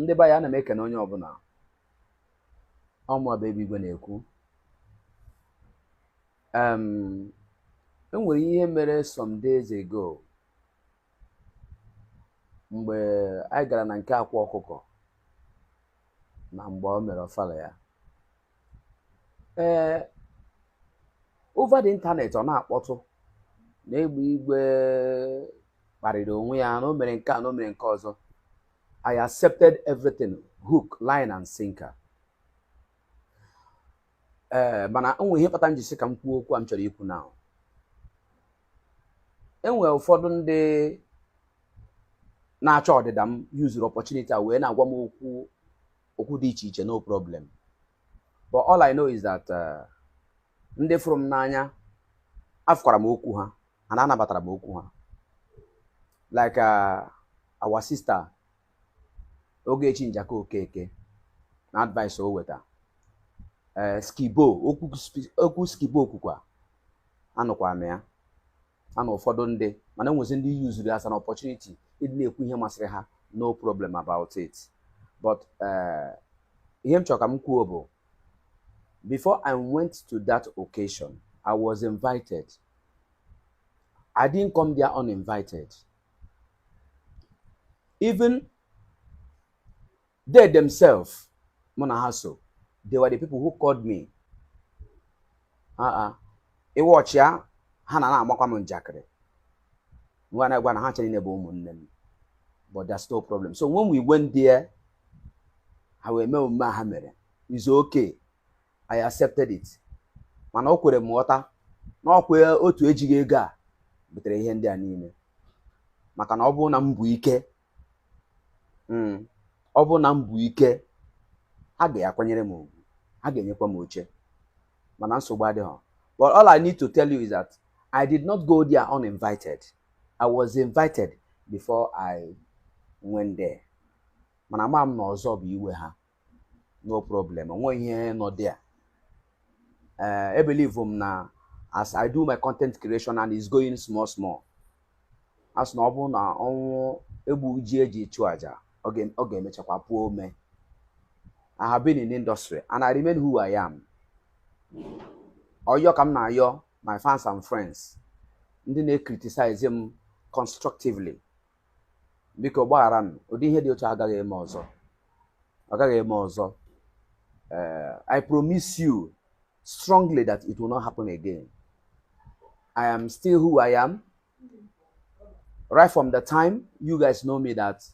ndị be anyị ana m ekene onye ọbụla ọ mụa bụ egbe igwe na-ekwu enwere ihe mere some days ago mgbe anyị gara na nke akwa ọkụkọ na mgbe o mere ọfala ya ee eh, over the internet ọ na-akpọtụ na egbe igwe kparịrị onwe ya na o mere nke a na o mere nke ọzọ I accepted everything hook line and sinker ee eh, mana enwe ihe kpata m ji sị ka m kwuo okwu a m chọrọ ikwu now enwe ụfọdụ ndị na-achọ ọdịda m yuzuru opportunity a wee na-agwa m okwu okwu dị iche iche no problem but all I know is that uh, ndị fụrụ m n'anya afụkwara m okwu ha and anabatara m okwu ha like uh, our sister Ogechi Njaka Okeke na advice o weta uh, skibo okwu skibo kwukwa anụkwara m ya a na ụfọdụ ndị mana enwezi ndị yuzuru as an opportunity ịdị na-ekwu ihe masịrị ha no problem about it but eh, ihe m chọrọ ka m kwuo bụ before I went to that occasion I was invited I didn't come there uninvited even they themselves mụ na ha so they were the people who called me ị watchịa ha na na-amakwa m njakịrị ngwa na-agwa na ha ncha niile bụ ụmụnne m but that's no problem so when we went there ha wee mee omume ha mere it's okay I accepted it mana o kwere m ghọta na ọkwa otu ejighị ego a butere ihe ndị a niile maka na ọ bụrụ na m bu ike hmm. ọ bụrụ na m bu ike ha ga-akwanyere m ugwu ha ga-enyekwa m oche mana nsogbu adịghị but all I need to tell you is that I did not go there uninvited I was invited before I went there mana ama m na ọzọ bụ iwe ha no problem onweghị ihe nọ there ee ebelivu m na as i do my content creation and it's going small small a sị na ọ bụrụ na ọnwụ egbu ji eji chụ aja ọ ga- ọ ga-emechakwa puo ome i have been in industry and i remain who i am ọyọ ka m na-ayọ my fans and friends ndị na-criticize m constructively biko gbaghara m ụdị ihe dị otu a agaghị eme ọzọ ọ gaghị eme ọzọ Eh, I promise you strongly that it will not happen again I am still who I am right from the time you guys know me that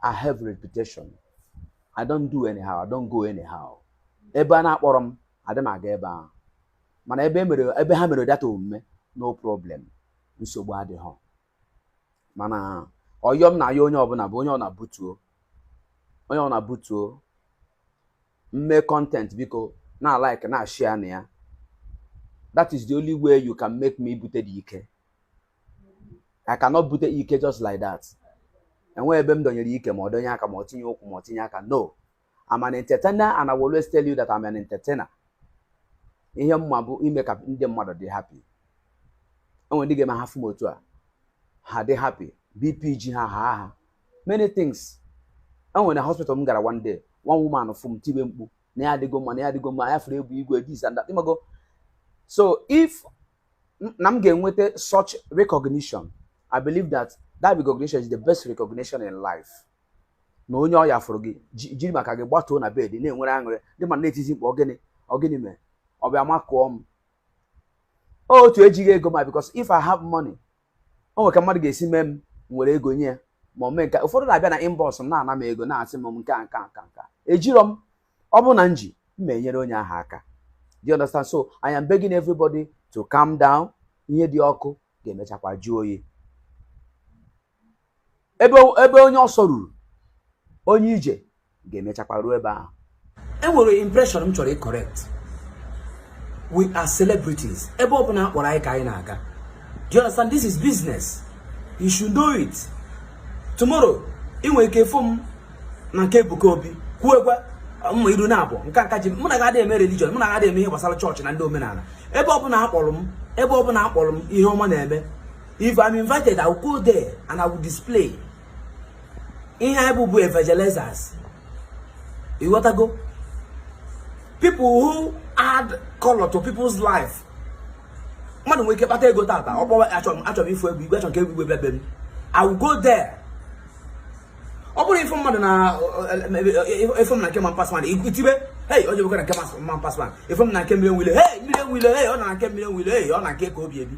I have reputation I don't do anyhow I don't go anyhow ebe a na-akpọrọ m adị m aga ebe ahụ mana ebe e mere ebe ha mere data omume no problem nsogbu adịghị mana ihe m na-ayọ onye ọbụla bụ onye ọ na-butuo onye ọ na-butuo m mee content biko na like na share na ya that is the only way you can make me bute the ike I cannot bute ike just like that enweghị ebe m dọnyere ike ma ọ dọnye aka ma ọ tinye ụkwụ ma ọ tinye aka no I'm an entertainer and I will always tell you that I'm an entertainer. Ihe m ma bụ ime ka ndị mmadụ dị happy. Enwere ndị ga-eme ha fụ m otu a. Ha dị happy. BP ji ha ahaa ha. Many things. Enwere hospital m gara one day. One woman fụ m tibe mkpu. Na ya adịgo mma, na ya adịgo mma, ya fụrụ Egbe Igwe, this and that. Ịmago? So if m- na m ga-enweta such recognition, I believe that that recognition is the best recognition in life. na onye ọya fụrụ gị jiri maka gị gbatuo na bed na-enwere aṅụrị dị mma na-etizi mkpu ọ gịnị ọ gịnị mere ọ bịa makụọ m otu ejighị ego ma because if I have money o nwere ka mmadụ ga-esi mee m were ego nye ya ma mee nke ụfọdụ na-abịa na inbox m na-ana m ego na-asị m nke a nke a nke nka ejirọ m ọ bụrụ na m ji m enyere onye ahụ aka do you understand so I am begging everybody to calm down ihe dị ọkụ ga-emechakwa jụọ oyi ebe ebe onye ọsọ ruru onye ije ga-emechakwa ruo ebe ahụ enwere impression m chọrọ ịcorrect we are celebrities ebe ọ bụla a kpọrọ anyị ka anyị na-aga do you understand this is business you should know it tomorrow ị nwere ike fụ m na nke Ebuka Obi kwuekwa m iru na abụọ nke nka ji mụ na ga-adị eme religion mụ na ga-adị eme ihe gbasara chọọchị na ndị omenala ebe ọ bụla a kpọrọ m ebe ọ bụla a kpọrọ m ihe ọma na-eme if i'm invited i will go there and i will display ihe anyị bụ bụ evangelizers ịghọtago people who add color to people's life mmadụ nwere ike kpata ego tata ọ kpọwa a chọrọ ịfụ Egbe Igwe a chọrọ ka Egbe Igwe bịa be m i will go there ọ bụrụ ife mmadụ na ị fụ m na nke man pass man i tibe hei onye bụkwa na nke man pass man ị fụ m na nke Mmiri Enwe Ilo hei Mmiri Enwe Ilo hei ọ na nke Mmiri Enwe Ilo hei ọ na nke Ebuka Obi ebi